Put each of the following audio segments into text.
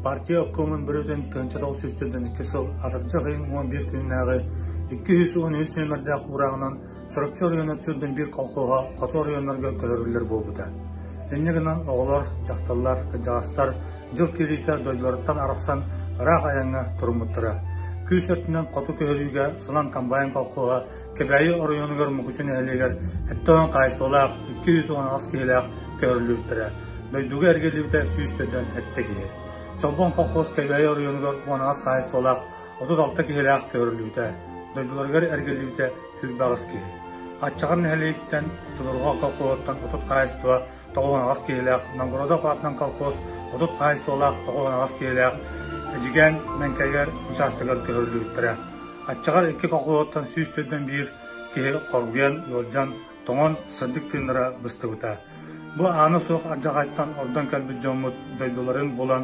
Партия оккуомун бүрүтүн көнчө тоҕус сүүс төрдөн икки сыл атырдьах ыйын уон биир күннээҕи икки жүз уон үс нүөмэрдээх уурааҕынан Чурапчы оройуона төрдүн биир колхоһа хоту оройуоннарга көһөрүллэр буолбута. Инньэ гынан оҕолор, дьахталлар, кырдьаҕастар дьыл киириитэ дойдуларыттан арахсан ыраах айаҥҥа туруммуттара. Күүс өртүнэн хоту көһөрүүгэ Сылан комбайн колхоһа Кэбээйи оройуонугар Мукучу нэһилиэгэр сэттэ уон хаачыстыбалаах, икки сүүс уон аҕыс киһилээх көһөрүллүбүттэрэ. Дойдуга эргиллибитэ сүүс төрдөн сэттэ киһи. Чолбон колхоз Кэбээйи оройуонугар уон аҕыс хаачыстыбалаах, отут алта киһилээх көһөрүллүбүтэ. Дойдуларыгар эргиллибитэ сүүрбэ аҕыс киһи. Аччаҕар нэһилиэгиттэн Судурҕа колхоһуттан отут хаачыстыба тоҕус аҕыс киһилээх, Новгородов аатынан колхоз отут хаһайсыалаах тоҕус аҕыс киһилээх Эдьигээн Мэҥкэйэр учаастагар көһөрүллүбүттэрэ. Аччаҕар икки колхоздуттан сүүс төрдөн биир киһи хоргуйан, ыалдьан, тоҥон, сырдык тыыннара быстыбыта. Бу аана суох ардьаҕайтан ордон кэлбит дьоммут дойдуларын булан,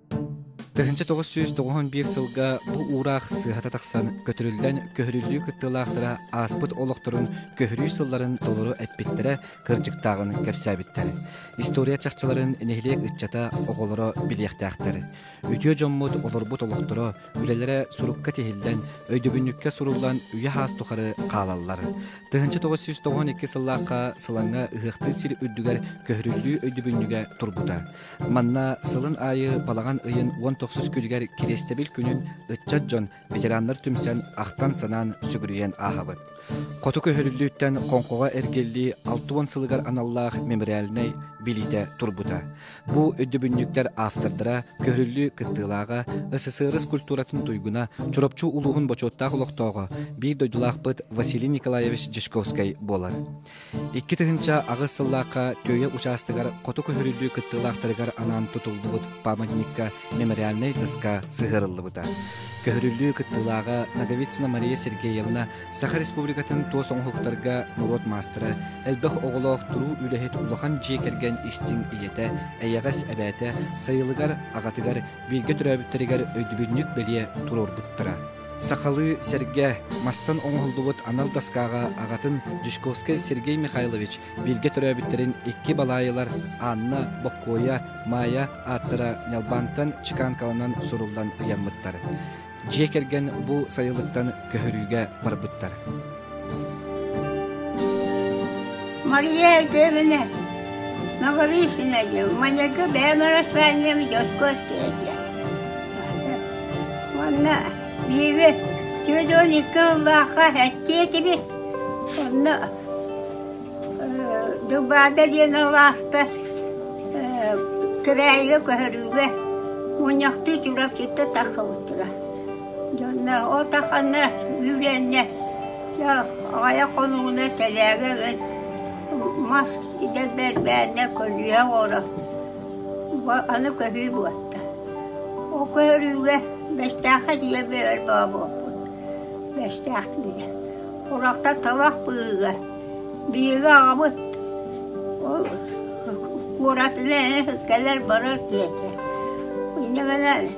Тыһыынча тоҕус сүүс тоҕуһун биир сылга бу уураах сыһата тахсан көтүрүллэн көһөрүллүү кыттыылаахтара ааспыт олохторун көһөрүү сылларын толору эппиттэрэ кырдьыктааҕын кэпсээбиттэр. История чахчыларын нэһилиэк ыччата оҕолоро билиэхтээхтэр. Үтүө дьоммут олорбут олохторо, үлэлэрэ сурукка тиһиллэн, өйдөбүнньүккэ суруллан үйэ-хаас тухары хаалаллар. Тыһыынча тоҕус сүүс тоҕуһун икки сыллаахха Сылаҥҥа ыһыахтыыр сир үрдүгэр көһөрүллүү өйдөбүнньүгэ турбута. Манна сылын аайы балаҕан ыйын уон тохсус күнүгэр Кириэстэбил күнүн ыччат дьон, ветераннар түмсэн, ахтан-санаан сүгүрүйэн ааһабыт. Хоту көһөрүллүүттэн Хоҥхоҕо эргиллии алта уон сылыгар аналлаах мемориальнай билиитэ турбута. Бу өйдөбүнньүктэр автордара көһөрүллүү кыттыылааҕа СССР культуратын туйгуна Чурапчы улууһун бочуоттаах олохтооҕо, биир дойдулаахпыт Василий Николаевич Дьячковскай буолар. Икки тыһыынча аҕыс сыллаахха Түөйэ учаастагар хоту көһөрүллүү кыттыылаахтарыгар анаан тутуллубут памятникка мемориальнай тыска сыһыарыллыбыта. Көһөрүллүү кыттыылааҕа Наговицына Мария Сергеевна Саха Республикатын туос оҥоһуктарга норуот маастара, элбэх оҕолоох туруу үлэһит улахан дьиэ кэргэн истиҥ ийэтэ, эйэҕэс эбээтэ, сайылыгар, аҕатыгар, бииргэ төрөөбүттэригэр өйдөбүнньүк бэлиэ туруорбуттара. Сахалыы сэргэ мастан оҥоһуллубут анал доскаҕа аҕатын Дьячковскай Сергей Михайлович бииргэ төрөөбүттэрин икки балаайылар Анна, Боккуойа, Маайа ааттара ньалбаантан чеканкаланан суруллан ыйаммыттар. Дьиэ кэргэн бу сайылыктан көһөрүүгэ барбыттар. Мария Артемовна, Новорысина диэн, маньяка бэйэм араспаанньам Дьоскуоская диэн. Уонна биһиги Теодон икки ыллаахха эттиэ этибит. Онно Дубаада диэн алаахта кыраайга көһөрүүгэ мунньахтыы Чурапчытта тахсыбыттара. Дьонно ол тахханна үүрэннэ, дьэ аҕайа хонууна тэлээгэ ылан мас идэ бэрбээннэ көлүйэ оҕоро аны көһүү буолта. Ол көһөрүүгэ Бэстээххэ тиийэ биэрэр бообуоппут. Бэстээх тиийэ. Урахта талах быыга. Биһиги аҕабыт ол куоратына кэлэр барар диэтэ. Иннигэнэ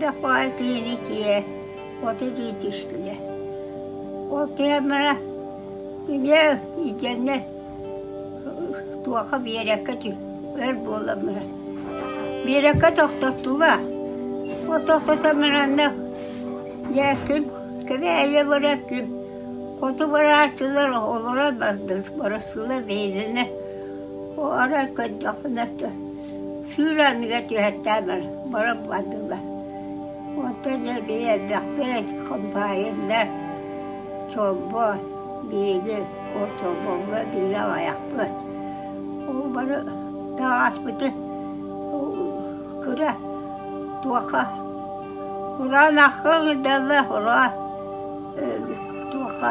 да поликлинике вот эти түстүлэр ол камера миэу итиннэр туоха биэрэккэ тү өр буоламмына биэрэккэ тохтоттулар вот тохтото мынанна дьэ күн кэбээйи барар күн хоту барааччылар олорон бардылар барыстылар бэйэлэринэ арай көрдөхпүнэ Сыыры анныгар түһэртээмэр баран бардылар. Онтон эбии элбэхтик комбайннар, чомбой, миини, чомбоҥҥо биири аҕайахпыт. Ол бары таҕаспытын кыра туоха кураанахха ыҥырдаллар, олоҕо туоха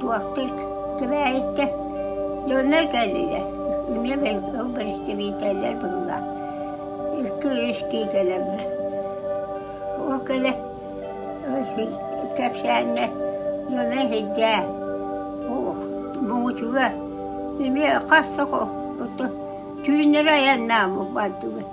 Туохтук кэбээйиттэн дьоннор кэллилэр. Эмиэ ол бэрэстэбиитэллэр быыллар. Икки-үс киһи кэлэллэр. Ол кэлэ кэпсээннэр дьоно иһирдээ. Муҥучуга эмиэ хас да кутту түүннэри айаннааммыт бардыбыт.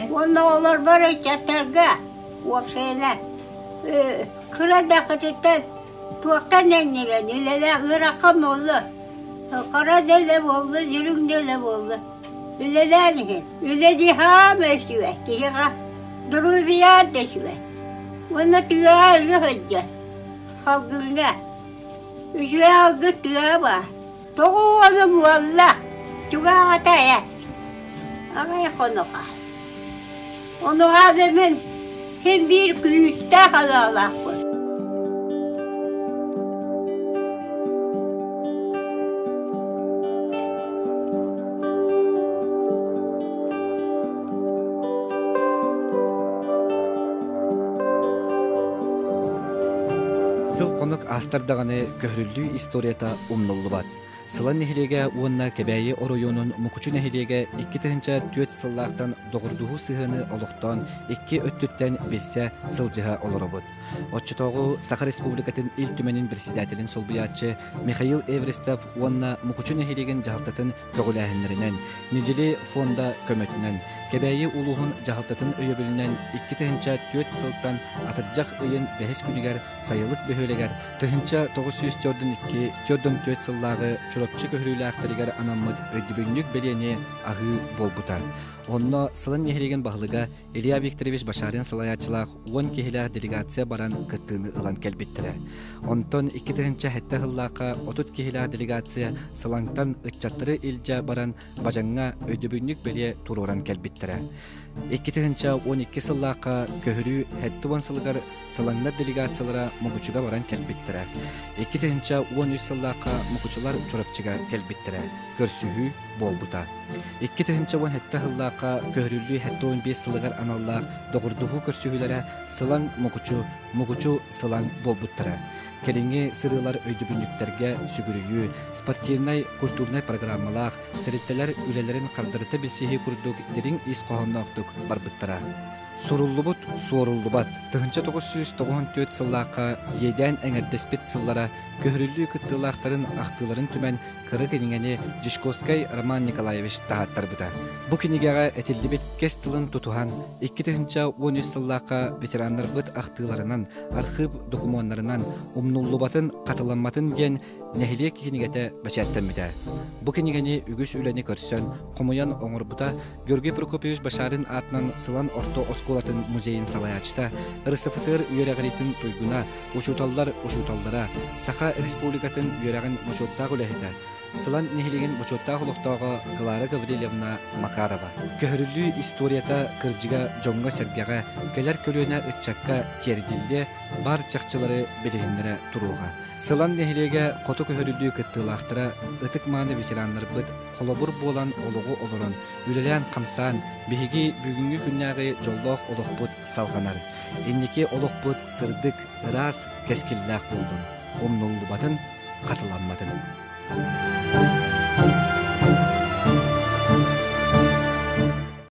Уонна олорбор ыччаттарга, уопсайынан, кыра даҕатыттан туохтан эннибэн, үлэлээх ыарахха буолла, хара да элэ буолла, дириҥ да элэ буолла. Үлэлээн иһин, үлэ дии хаама өсүө, киһиэхэ доруобуйаан да үчүгэй. Уонна тыаҕа үлэ сылдьар, салгыҥҥа. Үчүгэй алгы тыаҕа баар. Тоҕо уолум уолла, чугаһата ээ. Аҕай хонуха. Онуһаа да мин син биир күүстээх алаалаахпын. Сыл-хонук астар даҕаны көһөрүллүү историята умнуллубат. Сылан нэһилиэгэ уонна Кэбээйи оройуонун Мукучу нэһилиэгэ икки тыһыынча түөрт сыллаахтан доҕордуһуу сыһыаны олохтоон икки өттүттэн билсэ, сылдьыһа олоробут. Оччотооҕу Саха Республикатын Ил Түмэнин председателин солбуйааччы Михаил Эверестов уонна Мукучу нэһилиэгин дьаһалтатын көҕүлээһиннэринэн, Недели фонда көмөтүнэн, Кэбээйи улууһун дьаһалтатын өйөбүлүнэн икки тыһыынча түөрт сылтан атырдьах ыйын бэһис күнүгэр сайылык бөһүөлэгэр тыһыынча тоҕус сүүс төрдүн төрдүн түөрт сыллааҕы Чурапчы көһөрүүлээхтэригэр анаммыт өйдөбүнньүк бэлиэни аһыы буолбута. Онно сылын нэһилиэгин баһылыга Илья Викторович Башарин салайааччылаах уон киһилээх делегация баран кыттыыны ылан кэлбиттэрэ. Онтон икки тыһыынча сэттэ сыллаахха отут киһилээх делегация Салаҥтан ыччаттары илдьэ баран Бажаҥҥа өйдөбүнньүк бэлиэ туруоран кэлбиттэрэ. Икки тыһыынча он икки сыллаахха көһөрүү сэттэ уон сылыгар Салаҥнар делегациялара Мукучуга баран кэлбиттэрэ. Икки тыһыынча уон үс сыллаахха Мукучулар Чурапчыга кэлбиттэрэ. Көрсүһүү буолбута. Икки тыһыынча уон сэттэ сыллаахха көһөрүллүү сэттэ уон биэс сылыгар аналлаах доҕордоһуу көрсүһүүлэрэ Сылаҥ Мукучу, Мукучу Сылаҥ буолбуттара. Кэлиҥҥи сырыылар өйдөбүнньүктэргэ сүгүрүйүү, спортивнай, культурнай программалаах, тэрилтэлэр үлэлэрин хардарыта билсиһии курдук дириҥ ис хоһоонноохтук барбыттара. Суруллубут, суоруллубат. Тыһыынча тоҕус сүүс тоҕуһунтүөт сыллаахха иэдээн эҥэрдэспит сыллара көһөрүллүү кыттыылаахтарын ахтыыларын түмэн кыра кинигэни Дьячковскай Роман Николаевич таһааттарбыта. Бу кинигэҕэ этиллибит кэс тылын тутуһан, икки тыһыынча уон үс сыллаахха ветераннарбыт ахтыыларынан, архыып докумуоннарынан умнуллубатын, хатыламматын диэн нэһилиэк кинигэтэ бэчээттэммитэ. Бу кинигэни үгүс үлэни көрсөн, хомуйан оҥорбута Георгий Прокопьевич Башарин аатынан Сылан орто оскуолатын музейин салайааччыта, РСФСР үөрэҕириитин туйгуна, Учууталлар учууталлара, Саха Республикатын үөрэҕин бочуоттаах үлэһитэ, Сылан нэһилиэгин бочуоттаах олохтооҕо Клара Гаврильевна Макарова. Көһөрүлүү историята кырдьыга дьоҥҥо-сэргэҕэ, кэлэр көлүөнэ ыччакка тиэрдиллиэ, бар чахчылары билиһиннэрэ туруоҕа. Сылан нэһилиэгэ хоту көһөрүлүү кыттыылаахтара ытык-мааны ветераннарбыт холобур буолан олоҕу олорон, үлэлээн-хамсаан, биһиги бүгүҥҥү күннээҕи дьоллоох олохпут салҕанар. Инники олохпут сырдык, ыраас, кэскиллээх буоллун, умнуллубатын, хатыламматын!